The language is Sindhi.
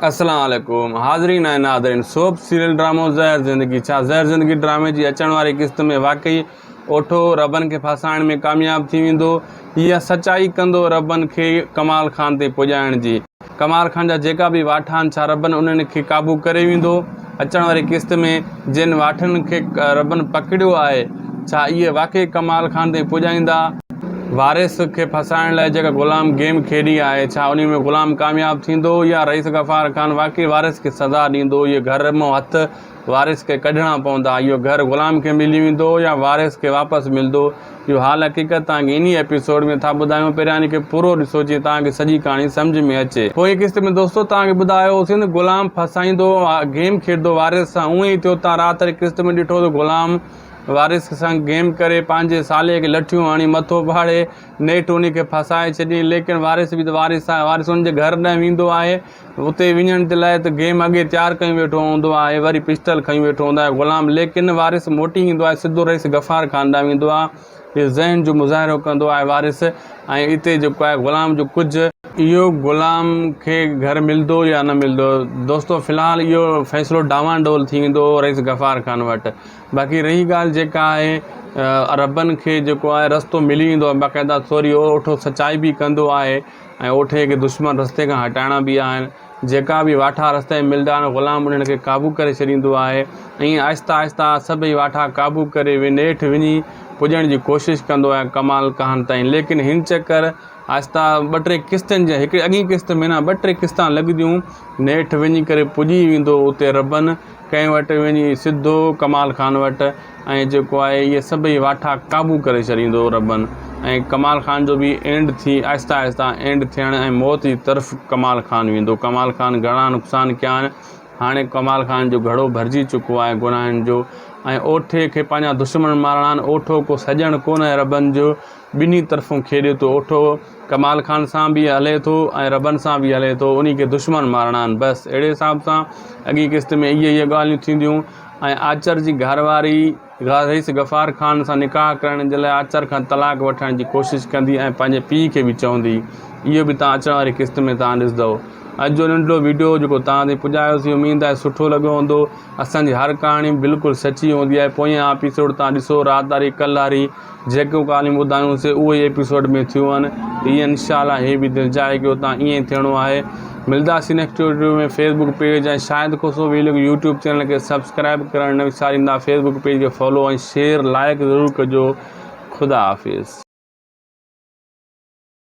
السلام عليڪم حاضرين ۽ ناظرين سوپ سيريل ڊرامو زهر زندگي ڇا زهر زندگي ڊرامي جي اچڻ واري قسط ۾ واقعي اوٺو ربن کي ڦاسائڻ ۾ ڪامياب ٿي ويندو يا سچائي ڪندو ربن کي ڪمال خان تي پڄائڻ جي ڪمال خان جا جيڪا به واٺا آهن ڇا ربن انهن کي قابو ڪري ويندو اچڻ واري قسط ۾ جن واٺن کي ربن پڪڙيو آهي، ڇا اهي واقعي ڪمال خان تائين پڄائيندا؟ وارث کي ڦاسائڻ لاء جيڪا غلام گيم کيڏي آهي، ڇا انهي ۾ غلام ڪامياب ٿيندو يا رئيس غفار خان واقعي وارث کي سزا ڏيندو؟ اهي گهر مئن هٿ وارث کي ڪڍڻا پوندا، اهو گهر غلام کي ملي ويندو يا وارث کي واپس ملدو؟ اهو حال حقيقت توهان کي انهي ايپيسوڊ ۾ ٿا ٻڌايون پهريان ان کي پورو ڏسو جيئن توهان کي سڄي ڪهاڻي سمجهه ۾ اچي. پوئين قسط ۾ دوستو توهان کي ٻڌايو هوسين ته غلام ڦاسائيندو گيم کيڏندو وارث سان اهو ئي ٿيو توهان رات واري قسط ۾ ڏٺو ته غلام وارث سان گيم ڪري پنهنجي ساليء کي لٺيون هڻي مٿو ڦاڙي نيٺ انهي کي ڦاسائي ڇڏيائين ليڪن وارث به ته وارث آهي وارث ان جي گهر ڏانهن ويندو آهي اتي وڃڻ جي لاء ته گيم اڳي تيار ڪيون ويٺو هوندو آهي وري پسٽل کنيون ويٺو هوندو آهي غلام ليڪن وارث موٽي ايندو آهي سڌو رئيس غفار خان ڏانهن ويندو آهي ذهن جو مظاهرو ڪندو آهي وارث ۽ اتي جيڪو آهي غلام جو ڪجهه اهو غلام کي گهر ملدو يا نه ملدو دوستو في الحال اهو فيصلو ڊانوان ڊول ٿي ويندو رئيس غفار خان وٽ باقي رهي ڳالهه جيڪا آهي ربن کي جيڪو آهي رستو ملي ويندو آهي باقاعده سوري اهو اٺو سچائي به ڪندو آهي ۽ اوٺي کي دشمن رستي کان هٽائڻا به آهن. جيڪا به واٺا رستي ۾ ملندا آهن، غلام انهن کي قابو ڪري ڇڏيندو آهي. ائين آهستي آهستي سڀئي واٺا قابو ڪري نيٺ وڃي پڄڻ جي ڪوشش ڪندو آهي ڪمال ڪهان تائين. ليڪن هن چڪر آهستي ٻه ٽي قسطن جي هڪڙي اڳئين قسط ۾ نه ٻه ٽي قسطان لڳنديون نيٺ وڃي ڪري پڄي ويندو اتي ربن ڪنهن وٽ وڃي سڌو ڪمال خان وٽ. ۽ جيڪو آهي اهي سڀئي واٺا قابو ڪري ڇڏيندو ربن ۽ ڪمال خان جو به اينڊ ٿي آهستي آهستي اينڊ ٿيڻ ۽ موت جي طرف ڪمال خان ويندو ڪمال خان گهڻا نقصان ڪيا آهن هاڻي ڪمال خان جو گهڙو ڀرجي چڪو آهي گناهن جو ۽ اوٺي کي پنهنجا دشمن مارڻا آهن اوٺو ڪو سڄڻ ڪونه ربن جو ٻنهي طرفون کيڏي ٿو اوٺو ڪمال خان سان به هلي ٿو ۽ ربن سان به هلي ٿو انهي کي دشمن مارڻا آهن بس اهڙي حساب سان اڳي قسط ۾ اهي اهي ڳالهيون ٿينديون ۽ آچر جي گهرواري رئيس غفار خان سان نڪاح ڪرڻ جي لاء آچر کان طلاق وٺڻ جي ڪوشش ڪندي ۽ پنهنجي پيء کي به چوندي اهو به توهان اچڻ واري قسط ۾ توهان ڏسندؤ اڄ جو ننڍڙو وڊيو جيڪو توهان تائين پڄايوسين اميد آهي سٺو لڳو هوندو اسان جي هر ڪهاڻي بلڪل سچي هوندي آهي پوئين ايپيسوڊ توهان ڏسو رات واري ڪلهاري جيڪيون ڳالهيون ٻڌايون سي اهو ئي ايپيسوڊ ۾ ٿيون آهن ته ايئن انشاء الله هي به دل چاهي ڪي اتان ايئن ئي ٿيڻو آهي ملداسين next video ۾ Facebook page ۽ Shahid Khoso vlog YouTube channel کي سبسڪرائيب ڪرڻ نه وساريندا فيس بڪ پيج کي فالو ۽ شيئر لائڪ ضرور ڪجو خدا حافظ.